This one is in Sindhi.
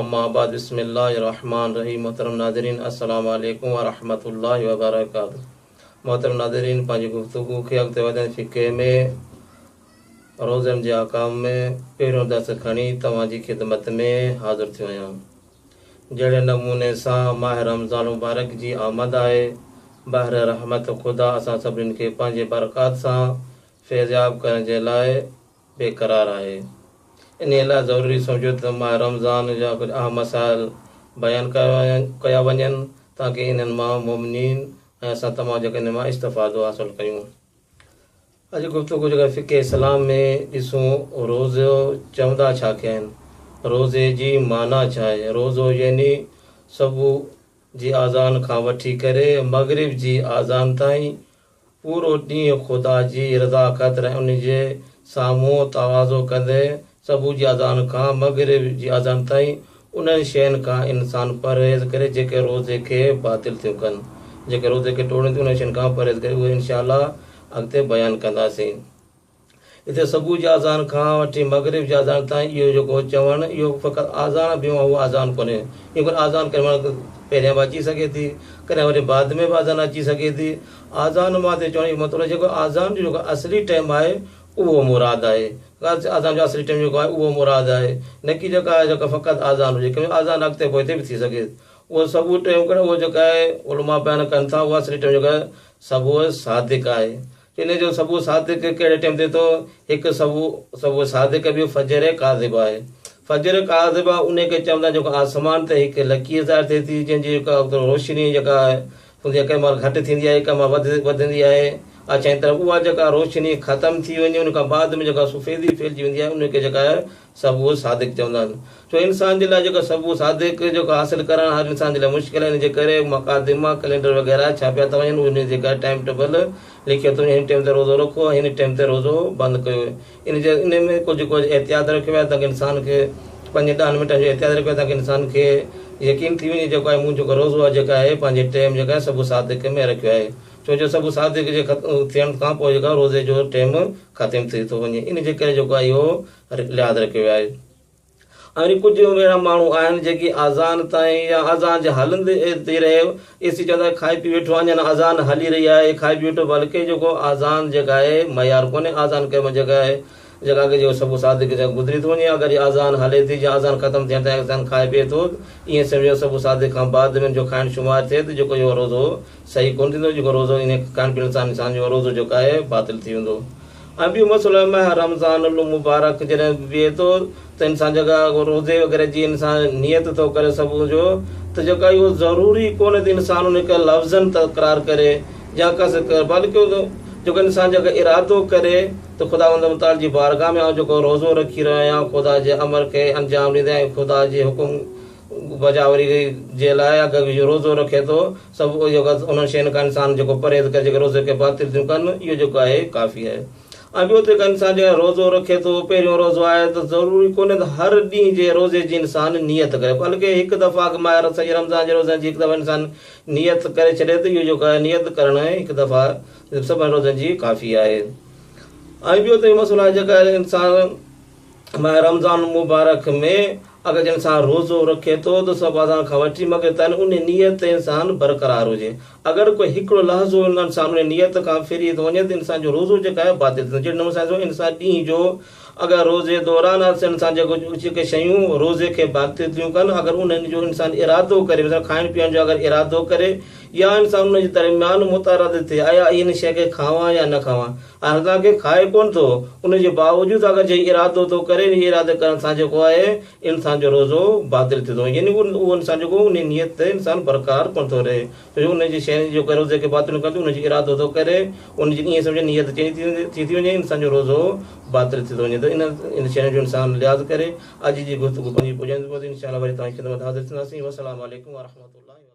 اما بعد بسم الله الرحمٰن الرحيم محترم ناظرين السلام عليڪم ورحمة الله وبرڪاته محترم ناظرين پنهنجي گفتگو کي اڳتي وڌائيندي فقه ۾ روزن جي احڪام ۾ پهريون درس کڻي توهان جي خدمت ۾ حاضر ٿيو آهيان جهڙي نموني سان ماه رمضان المبارڪ جي آمد آهي بحر رحمت خدا اسان سڀني کي پنهنجي برڪات سان فيضياب ڪرڻ جي لاء بي قرار آهي انهي لاء ضروري سمجهو ته ماه رمضان جا ڪجهه اهم مسائل بيان ڪيا وڃن تاڪه انهن مان مؤمنين ۽ اسان تمام جيڪا انهن مان استفادو حاصل ڪيون اڄ گفتگو جيڪا فقه اسلام ۾ ڏسون روزو چوندا ڇا کي آهن روزي جي معنيٰ ڇا آهي روزو يعني صبح جي آذان کان وٺي ڪري مغرب جي آذان تائين پورو ڏينهن خدا جي رضا خاطر ۽ ان جي سامهون تواضع ڪندي صبح جي اذان کان مغرب جي اذان تائين انهن شين کان انسان پرهيز ڪري جيڪي روزي کي باطل ٿيون ڪن. جيڪي روزي کي ٽوڙين ٿيون انهن شين کان پرهيز ڪري اهي انشاء الله اڳتي بيان ڪنداسين. هتي صبح جي آذان کان وٺي مغرب جي آذان تائين اهو جيڪو چوڻ اهو فقط آذان به اهو آذان ڪونهي ايئن ڪونه آذان ڪڏهن مهل پهريان به اچي سگهي ٿي ڪڏهن وري بعد ۾ به آذان اچي سگهي ٿي آذان مان هتي چوڻ جو مطلب جيڪو آذان جو جيڪو اصلي ٽيم آهي اهو مراد آهي آذان جو اصلي ٽيم جيڪو آهي اهو مراد آهي نه ڪي جيڪا آهي جيڪا فقط آذان هجي ڪيونڪه آذان اڳتي پوئتي به ٿي سگهي اهو صبح ٽيم ڪونه اهو جيڪا آهي علماء بيان ڪن ٿا اهو اصلي ٽيم جيڪو آهي صبح صادق آهي ان جو سبوء صادق ڪهڙي ٽيم تي ٿو؟ هڪ سبوء سبوء صادق ٻيو فجر ڪاذبه آهي. فجر ڪاذبه انهي کي چون ٿا جيڪو آسمان تي هڪ لڪير ظاهر ٿئي ٿي جنهن جي جيڪا روشني جيڪا هوندي آهي ڪنهن مهل گهٽ ٿيندي آهي ڪنهن مهل وڌندي آهي اڇائين طرف اها جيڪا روشني ختم ٿي وڃي ان کان بعد ۾ جيڪا سفيدي ڦهلجي ويندي آهي ان کي جيڪا سبوء صادق چوندا آهن. ڇو انسان جي لاء جيڪو سبوء صادق جيڪو حاصل ڪرڻ هر انسان جي لاء مشڪل آهي ان جي ڪري مقادمه، ڪلينڊر وغيره ڇاپيا ٿا وڃن انهي جي ڪري ٽائيم ٽيبل لکيو ٿو وڃي هن ٽيم تي روزو رکو ۽ هن ٽيم تي روزو بند ڪيو ويو ان جي انهي ۾ ڪجهه ڪجهه احتياط رکيو ويو آهي تاڪه انسان کي پنجن ڏهن منٽن جو احتياط رکيو ويو آهي تاڪه انسان کي يقين ٿي وڃي جيڪو آهي مون جيڪو روزو آهي جيڪا آهي پنهنجي ٽيم جيڪا آهي سبوء صادق ۾ رکيو آهي ڇو جو سبوء صادق جي ختم ٿيڻ کان پوء جيڪا روزي جو ٽيم ختم ٿي ٿو وڃي ان جي ڪري جيڪو آهي اهو لحاظ رکيو ويو آهي. وري ڪجهه اهڙا ماڻهو آهن جيڪي آذان تائين يا آذان جي هلندي ئي رهي ايسي چوندو آهي کائي پي ويٺو اڃان آذان هلي رهي آهي کائي پي ويٺو بلڪه جيڪو آذان جيڪا آهي معيار ڪونهي آذان ڪرڻ جيڪا آهي جيڪا اڳ جيڪو صبح صادق جا گذري ٿو وڃي اگر آذان هلي ٿي يا آذان ختم ٿيڻ تائين انسان کائي پي ٿو ايئن سمجهو صبح صادق کان بعد ۾ جو کائڻ شمار ٿئي ته جيڪو اهو روزو صحيح ڪونه ٿيندو جيڪو روزو ان کائڻ پيئڻ سان انسان جو روزو جيڪو آهي باطل ٿي ويندو ۽ ٻيو مسئلو آهي ماهه رمضان المبارڪ جڏهن ويهي ٿو ته انسان جيڪا روزي وغيره جي انسان نيت ٿو ڪري صبح جو ته جيڪا اهو ضروري ڪونهي ته انسان ان کي لفظن تڪرار ڪري يا ڪس ڪري بلڪ جيڪو انسان جيڪا ارادو ڪري ته خداوند متعال جي بارگاهه ۾ آئون جيڪو روزو رکي رهيو آهيان خدا جي امر کي انجام ڏيندي ۽ خدا جي حڪم بجاوري جي لاء اگر روزو رکي ٿو سبب اهو آهي ته انهن شين کان انسان جيڪو پرهيز ڪري جيڪي روزي کي باطل ٿيون ڪن اهو جيڪو آهي ڪافي آهي ۽ ٻيو ته انسان جيڪڏهن روزو رکي ٿو پهريون روزو آهي ته ضروري ڪونهي ته هر ڏينهن جي روزي جي انسان نيت ڪري بلڪه هڪ دفعه اڳ ماهه رت سڄي رمضان جي روزن جي هڪ دفعه انسان نيت ڪري ڇڏي ته اهو جيڪو آهي نيت ڪرڻ هڪ دفعه سڀن روزن جي ڪافي آهي ۽ ٻيو ته اهو مسئلو آهي جيڪا انسان ماه رمضان المبارڪ ۾ اگر جنھن انسان روزو رکي ٿو ته صبح اذان کان وٺي مغرب تائين انھي نيت تي انسان برقرار ھجي اگر ڪو ھڪڙو لحظو انسان انھي نيت کان ڦري ٿو وڃي ته انسان جو روزو جيڪو آھي باطل ٿي ويندو جھڙي نموني سان انسان ڏينھن جو اگر روزي دوران انسان جيڪو جيڪي شيون روزي کي باطل ٿيون ڪن اگر انھن جو انسان ارادو ڪري مثلا کائڻ پيئڻ جو اگر ارادو ڪري يا انسان انھي جي درميان متعرض ٿئي آيا اھي ھن شيء کي کاوان يا نه کاوان آء تان کي کائي ڪونه ٿو، ان جي باوجود اگر جي ارادو تو ڪري ني ارادي ڪرڻ سان جيڪو آهي انسان جو روزو باطل ٿي ٿو يعني اهو انسان جيڪو انهي نيت تي انسان برقرار ڪونه ٿو رهي ڇو جو ان جي شين جي جيڪو روزي کي باطل ڪرڻ ٿيون ان جي ارادو ٿو ڪري ان جي ائين سمجهه نيت چينج ٿي ويندي ٿي ٿي وڃي انسان جو روزو باطل ٿي ٿو وڃي ته ان ان شين جو انسان لحاظ ڪري اڄ جي گفتگو پنهنجي پڄاڻي ٿي پوندي انشاء الله وري توهان جي خدمت حاضر ٿينداسين وسلام عليڪم ورحمة الله وبرڪاته.